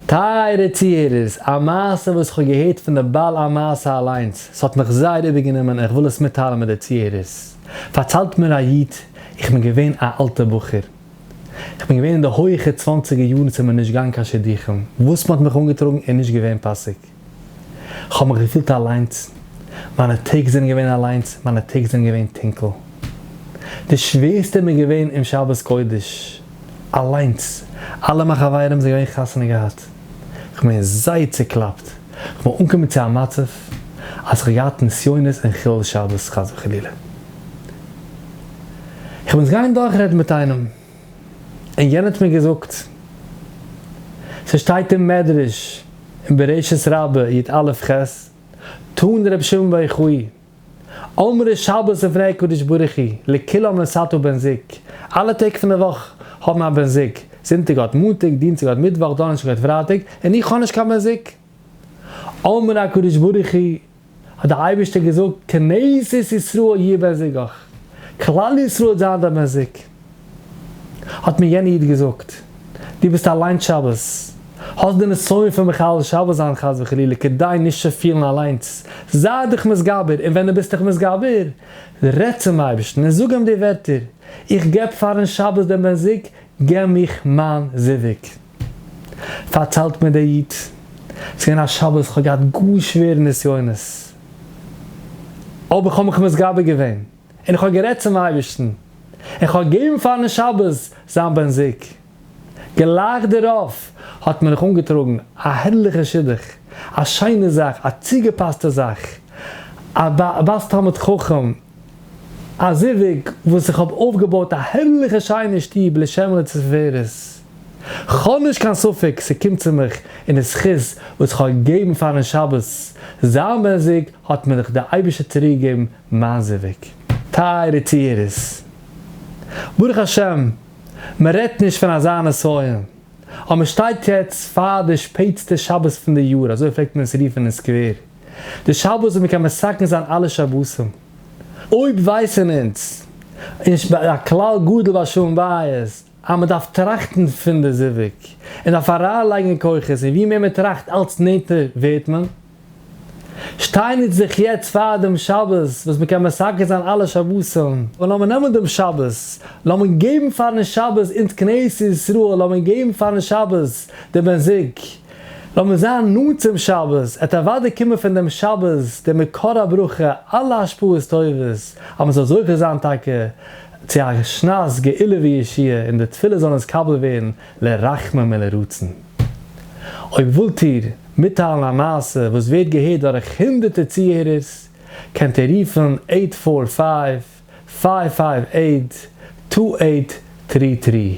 טייערע צוהערערס, א מעשה וואס כ'האב געהערט פון די בעל המעשה אליינס, ס'האט מיך זייער איבערגענומען און כ'וויל עס מיטטיילן מיט די צוהערערס. פארציילט מיר א איד, איך בין געווען א אלטע בחור, כ'בין געווען אין די הויכע צוואנציגער יארן ס'זענען מיר נישט געגאנגען קיין שידוכים, וואס מ'האט מיך אנגעטראגן איז נישט געווען פאסיג. כ'האב מיך געפילט אליינס, מיינע טעג זענען געווען אליינס, מיינע טעג זענען געווען טונקל. די שווערסטע מיר געווען אום שבת קודש, אליינס, אלע מיין חברים זענען געווען חתונה געהאט, כ'בין זייער צוקלאפט, כ'בין אנגעקומען צו א מצב אז כ'האב געהאט נסיונות און חילול שבת חס וחלילה. כ'בין עס גייען דורכרעדן מיט איינעם. און יענער האט מיר געזאגט, ס'שטייט אין מדרש אין בראשית רבה יט א לפ ח, תנא רבי שמעון בר יוחאי, אמרו שבת לפני הקדוש ברוך הוא לכולם לשאתו בן זוג, אלע טעג פון די וואך האבן א בן זוג, זונטאג האט מאנטאג, דינסטאג האט מיטוואך, דאנערשטאג האט פרייטאג, און איך האב נישט קיין בן זוג. אמר הקדוש ברוך הוא, האט דער אייבערשטער געזאגט, כנסת ישראל יהיה בן זוגך, כלל ישראל וועט זיין דיין בן זוג. האט מיר יענער איד געזאגט, דו ביסט אליינס שבת, האסט די נסיון פון מחלל שבת זיין חס וחלילה, כדי נישט צו פילן אליינס, זיי דיך מתגבר, און ווען דו ביסט דיך מתגבר, רעד צום אייבערשטן און זאג אים די ווערטער, איך געב פאר'ן שבת דעם בן זוג, געב מיך מיין זיווג. פארציילט מיר דער איד, ס'איז געווען א שבת, כ'האב געהאט גאר שווערע נסיונות, אבער איך האב מיך מתגבר געווען, און איך האב גערעדט צום אייבערשטן, און כ'האב געגעבן פארן שבת זיין בן זוג. גלייך דערויף האט מען נאך אנגעטראגן א הערליכע שידוך, א שיינע זאך, א צוגעפאסטע זאך, א בת תלמיד חכם, א זיווג וואס איך האב אויפגעבויט א הערליכע שיינע שטוב לשם ולתפארת. כ'האב נישט קיין ספק ס'קומט צו מיך אין די זכות וואס כ'האב געגעבן פארן שבת, זיין מעסיג האט מיר דאך די אייבערשטער צוריקגעגעבן מיין זיווג. טייערע טוערס, ברוך השם מ'רעדט נישט פון אזא נסיון, און מ'שטייט יעצט פאר די שפעטסטע שבת פון די יאר, אזוי פלעגט מען עס רופן אין סקווער, די שבת וואס מ'קען מסכם זיין אלע שבתים. אויב ווייסן אונז, און ש ב הכלל גדול ביי שלום בית, אז מען דארף טראכטן פון די זיווג, און דארף אריינלייגן כוחות, און ווי מער מען טראכט אלץ נענטער ווערט מען. שטיין אונז זיך יעצט פאר דעם שבת וואס מען קען מסכם זיין אלע שבתים, און לאמיר נעמען דעם שבת, לאמיר געבן פארן שבת אונז כנסת ישראל, לאמיר געבן פארן שבת די בן זוג, לאמיר זיין נאנט צום שבת, עס וועט אוודאי קומען פון דעם שבת דער מקור הברכה אלע השפעות טובות, אז מען זאל זוכה זיין טאקע צו א שנת גאולה וישועה און די תפילות זאלן נתקבל ווערן לרחמים ולרצון. אויב ווילט איר מיטטיילן א מעשה וואס ווערט געהערט דורך הונדערטער צוהערערס, קענט איר רופן עיט פאר פייוו, פייוו פייוו עיט, טו עיט טרי טרי.